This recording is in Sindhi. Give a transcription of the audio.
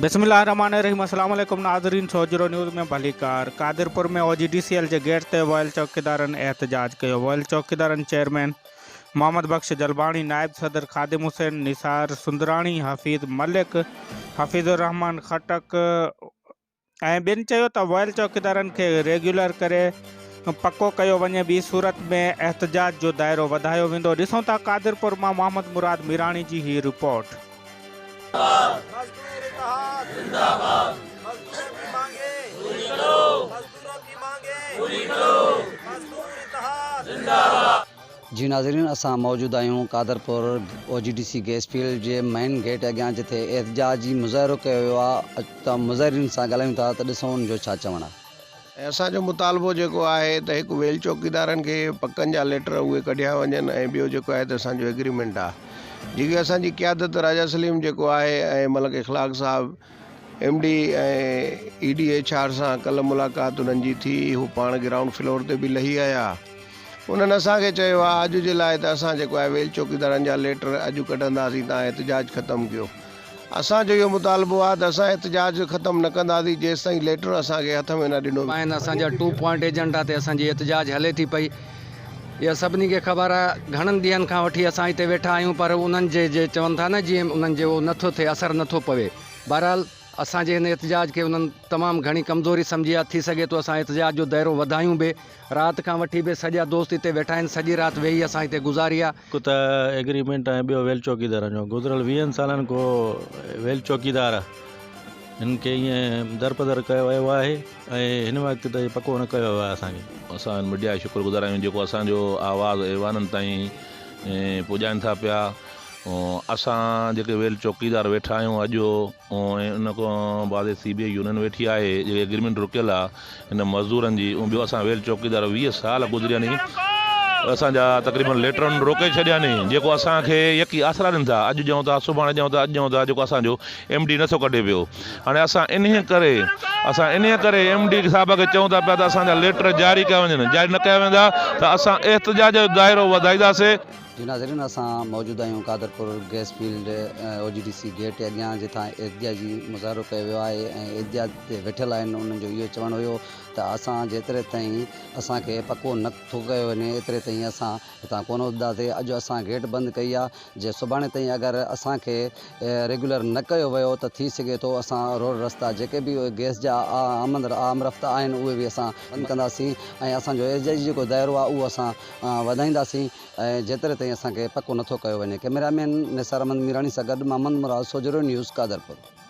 بسم الله الرحمٰن الرحيم اسلام عليڪم ناظرين سوجهرو نيوز ۾ ڀليڪار Qadirpur ۾ O G D C L جي گيٽ تي ويل چوڪيدارن احتجاج ڪيو ويل چوڪيدارن چيئرمين محمد بخش جلباڻي نائب صدر خادم حسين نثار سندراڻي حفيظ ملڪ حفيظ الرحمٰن خٽڪ ۽ ٻين چيو ته ويل چوڪيدارن کي ريگيولر ڪري پڪو ڪيو وڃي ٻي صورت ۾ احتجاج جو دائرو وڌايو ويندو ڏسون ٿا قادرپور مان محمد مراد ميراڻي جي هي رپورٽ. جي ناظرين اسان موجود آهيون Qadirpur O G D C gas field جي مئن گيٽ اڳيان جتي احتجاجي مظاهرو ڪيو ويو آهي اچو مظاهرين سان ڳالهايون ٿا ته ڏسون ان جو ڇا چوڻ آهي. ۽ اسان جو مطالبو جيڪو آهي ته هڪ ويل چوڪيدارن کي پڪن جا ليٽر اهي ڪڍيا وڃن ۽ ٻيو جيڪو آهي ته اسان جو ايگريمينٽ آهي جيڪي اسان جي قيادت راجا سليم جيڪو آهي ۽ ملڪ اخلاق صاحب M D ۽ E D H R سان ڪلهه ملاقات انهن جي ٿي، هو پاڻ گرائونڊ فلور تي به لهي آيا. انهن اسان کي چيو آ اڄ جي لاء ته اسان جيڪو آهي ويل چوڪيدارن جا ليٽر اڄ ڪڍنداسين تان احتجاج ختم ڪيو. اسان جو اهو مطالبو آ ته اسان احتجاج ختم نه ڪنداسين جيستائين ليٽر اسان کي هٿ ۾ نه ڏنو ويندو. ٻاهن اسان جا ٽو پوائنٽ ايجنڊا تي اسان جي احتجاج هلي ٿي پئي. اها سڀني کي خبر آهي گهڻن ڏينهن کان وٺي اسان هتي ويٺا آهيون پر انهن جي جي چون ٿا نه جيئن انهن جي اهو نٿو ٿئي اثر نٿو پوي بهرحال اسان جي هن احتجاج کي انهن تمام گهڻي ڪمزوري سمجهي آهي ٿي سگهي ٿو اسان احتجاج جو دائرو وڌايون به رات کان وٺي به سڄا دوست هتي ويٺا آهن سڄي رات ويهي اسان هتي گذاري آهي. هڪ ته ايگريمينٽ ۽ ٻيو ويل چوڪيدارن جو گذريل ويهن سالن ڪو ويل چوڪيدار هن کي ائين درپدر ڪيو ويو آهي ۽ هن وقت تائين پڪو نه ڪيو ويو آهي اسان کي. اسان ميڊيا جا شڪر گذار آهيون جيڪو اسان جو آواز ايوانن تائين پڄائين ٿا پيا اسان جيڪي ويل چوڪيدار ويٺا آهيون اڄ ان کان بعد سي بي آئي يونين ويٺي آهي جيڪي اگريمينٽ رڪيل آهي هن مزدورن جي ۽ ٻيو اسان ويل چوڪيدار ويهه سال گذرياني اسان جا تقريبن ليٽرن روڪي ڇڏياني جيڪو اسان کي يڪي آسرا ڏين ٿا اڄ ڏيون ٿا سڀاڻي ڏيون ٿا اڄ ڏيون ٿا جيڪو اسان جو ايم ڊي نٿو ڪڍي پيو هاڻي اسان انهي ڪري اسان انهي ڪري ايم ڊي صاحب کي چئون ٿا پيا ته اسان جا ليٽر جاري ڪيا وڃن جاري نه ڪيا ويندا ته اسان احتجاج جو دائرو وڌائينداسي. جي ناظرين اسان موجود آهيون Qadirpur gas field O G D C gate اڳيان جتان احتجاجي مظاهرو ڪيو ويو آهي ۽ احتجاج تي ويٺل آهن انهن جو اهو چوڻ هيو ته اسان جيتري تائين اسان کي پڪو نه ٿو ڪيو وڃي ايتري تائين اسان هتان ڪونه اٿنداسين اڄ اسان گيٽ بند ڪئي آهي جي سڀاڻي تائين اگر اسان کي ريگيولر نه ڪيو ويو ته ٿي سگهي ٿو اسان روڊ رستا جيڪي به گئس جا آمد آمرفت آهن اهي به اسان بند ڪنداسين ۽ اسان جو احتجاجي جيڪو دائرو آهي اهو اسان وڌائينداسين ۽ جيتري تائين اسان کي پڪو نٿو ڪيو وڃي ڪئميرا مين نثار احمد ميراڻي سان گڏ محمد مراد سوجهرو نيوز قادرپور.